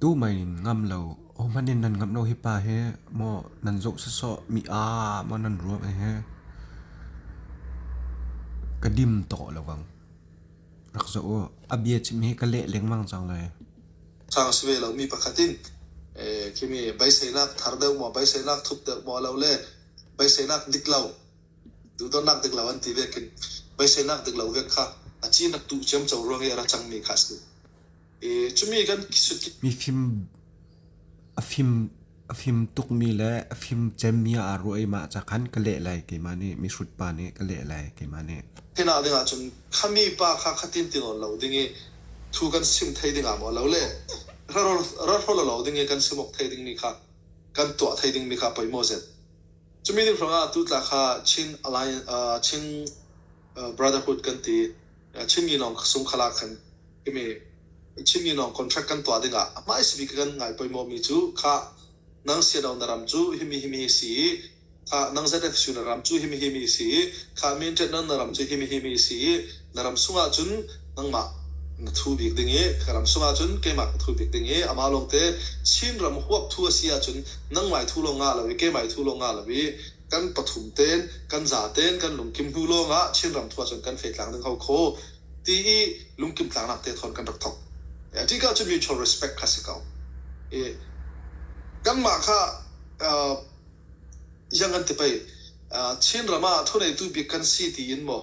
Tumai in ngam lo, hohmanh in nan ngamh lo hi pa hi maw nan zoh sawsawh mi ah maw nan ruah hi ka dim tawh lo vang. Rak zoh u, a bia chim hi ka leh lengmang cang lai. Khang sve lo mi pakhat in kimi beiseinak thar deuh maw beiseinak thup deuh maw lo le beiseinak dik lo duhdonnak dik lo an ti vekin beiseinak dik lo vek kha a ci nak tuh ciam co ruang i a ra cang mi kha a si. A fim tukmi le a fim cemmi aa ruah i mah ca khan ka leh lai keimah nih mihrut pa nih ka leh lai keimah nih. Hina ding ahcun khami pa kha khatin tinawn lo ding i thu kan sim thai ding ah maw lo le rarawl lo ding i kan simuk thai dingmi kha kan tuah thai dingmi kha poi maw zet. Cumi ding hrangah tutla kha Chin Alliance Chin Brotherhood kan ti. Chinmi lawng sungkhal ah khan ka me. Chinmi lawng contract kan tuah dingah a hmaisi bik kan ngai pawimawhmi cu khah nang Siado na ram cu himi himi si i khah nang ZFSU na ram cu himi himi si i khah min ṭenhnak na ram cu himi himi si i na ram sungah cun nangmah na thu bik ding i ka ram sungah cun keimah ka thu bik ding i amah lawngte Chinram huap thu a si ahcun nangmah i thu lawng ngah lo i keimah i thu lawng ngah lo i kan pathum te'n, kan za te'n kan lungkim hnu lawngah Chinram thu ahcun kan fehtlak ning ho khaw ti i lungkim tlaknak te thawn kan rak thawk. Ṭih ka cu mutual respect kha si ko. I kanmah kha yang an ti pei Chinram ah thuneitu bik kan si tiin maw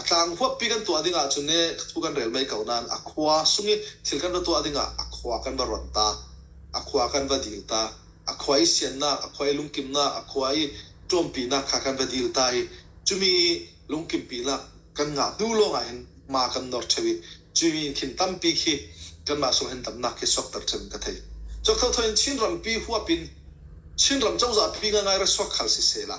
A tlang huappi kan tuah ding ahcun ee thu kan rel mei ko nain a khua sung i thil kan va tuah ding ah a khua kan va rawnh ta. A khua kan va dil ta. A khua i siannak, a khua i lungkimnak, a khua i ṭawmpinak kha kan va dil ta i cumi lungkimpinak kan ngah hnu lawngah hin hma kan nawr ṭheu i cumi in thing tampi khi kanmah sungh hin damnak khi sawkter ṭheu in ka thei. Cawk thotho in Chinrampi huap in Chinram cozah phi ngaingai ra suak hal siseh la,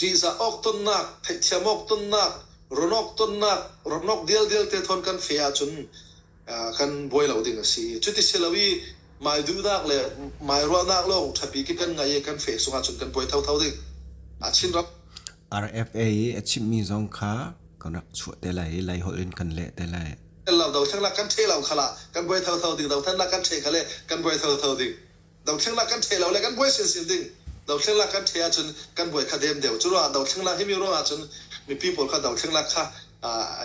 ṭihzah awk tonnak, theihthiam awk tonnak, run awk tonnak, ramnok dialdial te thawn kan feh ahcun kan buai lo ding a si. Cuti si lo i maiduhnak le mairuahnak lawng ṭhapi khi kan ngaih i kan feh sungh ahcun kan buai thotho ding a Chinram. RFA i a chimhmi zong kha kan rak chuah te lai i Laiholh in kan leh te lai. Lo dothlennak kan ṭheh lo kha la kan buai thotho ding, dothlennak kan ṭheh kha le kan buai thotho ding Dothleng lak kan ṭhe lo le kan buai silsil ding. Dothleng lak kan ṭhe ahcun kan buai kha dem deuh. Curuangah dothleng lak hi mi ruangah cun mipi pawl kha dothleng lak kha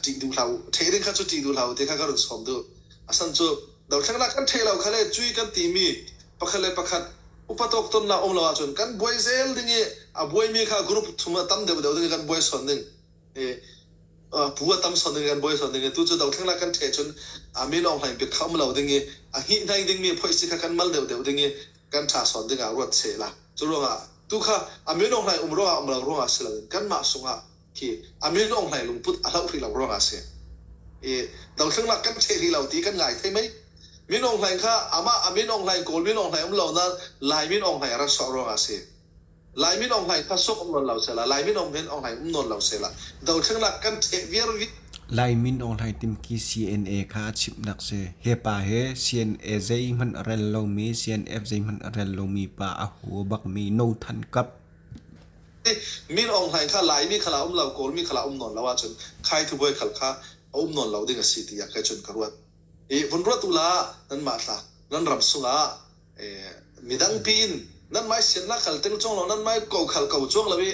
ṭih duh hlah u, ṭheh ding kha cu ṭih duh hlah u ti kha ka run sawm duh. A san cu dothleng lak kan ṭheh lo kha le cui kan timi pakhat le pakhat upa tawktonnak um lo ahcun kan buai zel ding i a buaimi kha group thum ah tam deuhdeuh ding i kan buai sawn ding. phu a tam sawt ding an buai sawt ding tu cu dothlenglak kan ṭhe cun mi lawng hlaing pit kha um lo ding i a hnihnai dingmi phoisi kha kan mal deuhdeuh ding i kan ṭha sawt dingah ruat sehla cu ruangah tu kha a min ong hlaing um ruangah um lo ruangah si loin kanmah sungah khi a min ong hlaing lungput a hloh hrih lo ruangah a si i dothlenglak kan ṭhe hrih lo ti kan ngai thei mei min ong hlaing kha amah a min ong hlaing kawl min ong hlaing um lo nain lai min ong hlaing a rat sawh ruangah a si Laimi lawng hlai kha sawk um nawn lo sehla, Laimi lawng hin aw hlai um nawn lo sehla, dothlennak kan ṭheh viar rih. Lai min Aunghlai Timki CNA kha a chimhnak si. He pa he CNA zeihmanh a rel lomi, CNF zeihmanh a rel lomi pa a hu a bakmi No Than Kap. Min Aung Hlaing kha Laimi kha lah um lo, Kawlmi kha lah um nawn lo ahcun Khai Thubuai khal kha a um nawn lo ding a si tiah kei cun ka ruat. Hi vun ruahtu la, nanmah thlah, nan ram sungah midang piin nan mai siannak khal teng chuang lo nan mai ko khal ko chuang lo i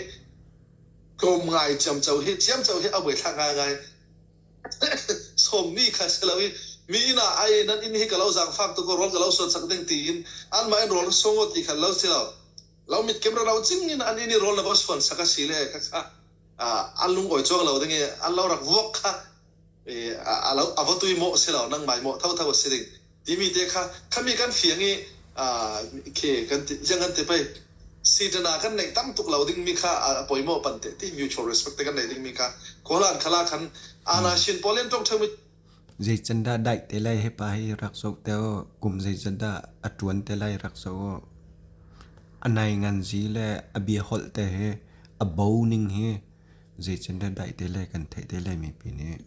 tlawm ngai ciamco hi ciamco hi a buaithlak ngaingai somni kha si lo i mi ina ai nan inn hi ka lo zang fak tu ko rol ka lo suat sak ding tiin an mai rol songo ti khal lo si lo lo mit kem ra lo ching in an ini rol na ba suan sak a si le kha an lung oi chuang lo ding i an lo rak vuak kha a va tui maw si lo, nangmah i mawh thotho a si ding timi te kha khami kan fiang i khi kan ti ziang kan ti pei sitana kan neih tam tuk lo dingmi kha a poi maw pan te ti mutual respect te kan nei dingmi kha khualan khala khan ana shin polian tong thang zei can dah dai te lai hepa hi rak zo te kum zei can dah a tuan te lai rak zo anai ngan ji le a bia hol te he a bo ning hi Zeitindah daih te le kan theih te le mipi nih.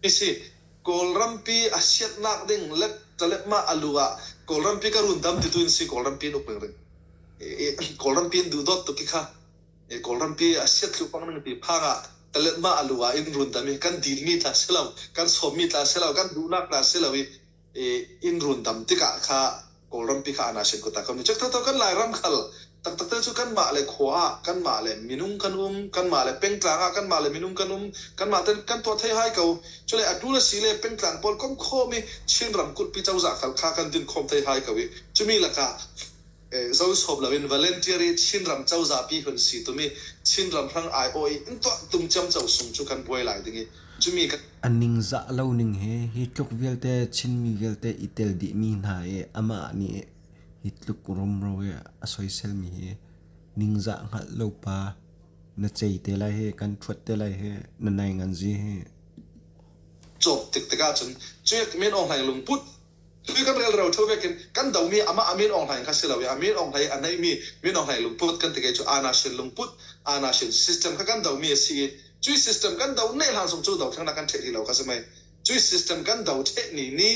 Asi. Kawlrampi a sianhnak ding letṭaletmah a lu ah Kawlrampi ka rundam titu in si Kawlrampi in uk ringring Kawlrampi in duhdawt tuk hi kha Kawlrampi a siathlupang ning ti phang ah tlaletmah a lu ah in rundam hi kan dilmi tla si lo, kan sawmmi tla si lo, kan duhnak tla si lo i i inn run dam tikah kha Kawlrampi kha Anashin kut ah kan u Cekthotho kan Lairam khal taktak te cu kanmah le khua ah kanmah le minung kan um kanmah le pengtlang ah kanmah le minung kan um kanmah ten kan tuah thei hai ko cule atu le si le pengtlang pawl kom khawm i Chinram kutpi cozah khal kha kan din khawm thei hai ko i cumi lakah Zohsawp loin Volunteer i Chinram cozah pi hun si tum i Chinram hrang aiawh i in tuah tum ciamco sung cu kan buai lai ding i cumi ka. A ningzah lo ning he hi tluk vialte Chinmi vialte i tel dihmi hna i amah nih hi tluk rumro i a soiselmi hi ningzah hngalh lo pa na cei te lai hi kan ṭhuat te lai hi na nainganzi hi. Cawk tik tikah cun cuiak men awk hlai lungput Hlui kan rel roṭho vek in kan domi amah a min Aung Hlaing kha si lo i a min Aung Hlaing, a neihmi min Aung Hlaing lungput kan ti ka i cu Aa Na Shin lungput, Aa Na Shin system kha kan domi a si i cuih system kan do neh hlan zong cu dothlennak kan ṭheh ti lo kha si mei. Cuih system kan do ṭheh ni ni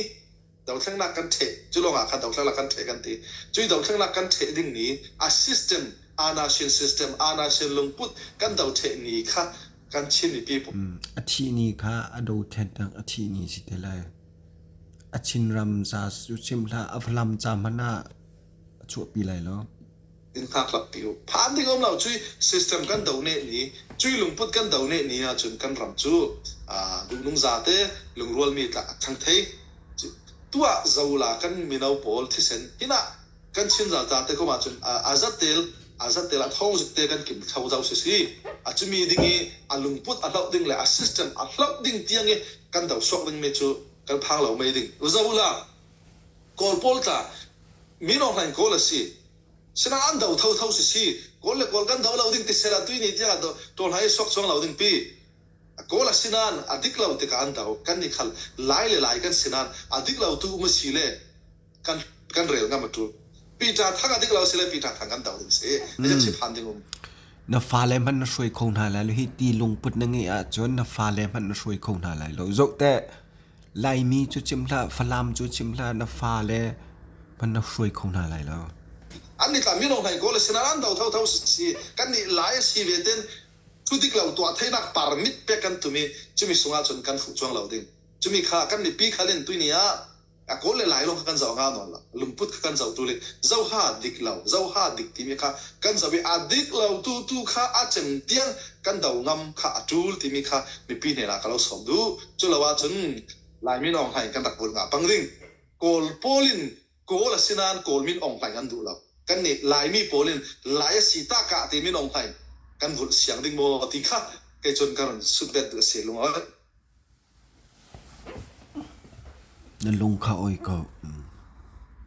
dothlennak kan ṭheh, cu lawngah khan dothlennak kan ṭheh kan ti. Cuih dothlennak kan ṭheh ding ni a system Aa Na Shin system, Aa Na Shin lungput kan do ṭheh ni kha kan Chin mipi, A thih ni kha a dothlennak a thih ni a si te lai. A thingram ca cu chim hlah, a hlam ca hmanh ah a chuahpi lai lo. In hngakhlappi u. Phan ding a um lo. Cuih system kan doneh ni, cuih lungput kan doneh ni ahcun kan ram cu duhnung zate, lungrualmi tlak a thang thei. Tuah, zola kan mino pawl thisen hin ah kan Chinral tar te komh ahcun aa zattel aa zattel ah thawngzette kan kim thlo zau sisih, a cumi ding i a lungput a hloh ding le a system a hloh ding tiang i kan do suak dingmi cu kan phang lo mei ding. Zo la, Kawl pawl tla, min ohraing Kawl a si. Sinain an do thotho sisih, Kawl le Kawl kan do lo ding tisel a tuini tiang a tawlhla i suak cuang lo ding pi. Kawl a si nain a dik lo tikah an do kan i khalh. Lai le Lai kan si nain a dik lo tu um a si le, kan rel ngam a tul. Pita thang a dik lo si le Pita thang kan doh ding si. Hica chip han ding um. Na fale hman na hruai kho hna lai lo hi ti lungput na nge ah cun na fale hman na hruai kho hna lai lo zo te laimi cu chim hla falam cu chim hla na fale hman na hruai kho hna lai lo an ni tla mino hnai ko le sinaran do tho tho si kan ni lai si ve ten thu dik lo tua theinak parmit pe kan tumi chumi sungah cun kan fu chuang lo ding chumi kha kan ni pi khalin tuini ah a kawl le lailawng kha kan zoh hau nawn lo lungput kha kan zohtu le zoha dik lo zoha dik timi kha kan zoh i a dik lo tu tu kha a cem tiang kan do ngam kha a tul timi kha mipi hnenah ka lo sawm duh cu lo ahcun laimin ong hlain kan rak vun ngah pang ding kawl pawl in kawl a si nain kawl min ong hlain an duh lo kan nih laimi pawl in lai a si ta ka ti min ong hlain kan vulh siang ding maw ti kha kei cun kan run sutbet duh a si lungoih Na lung kha oi ko.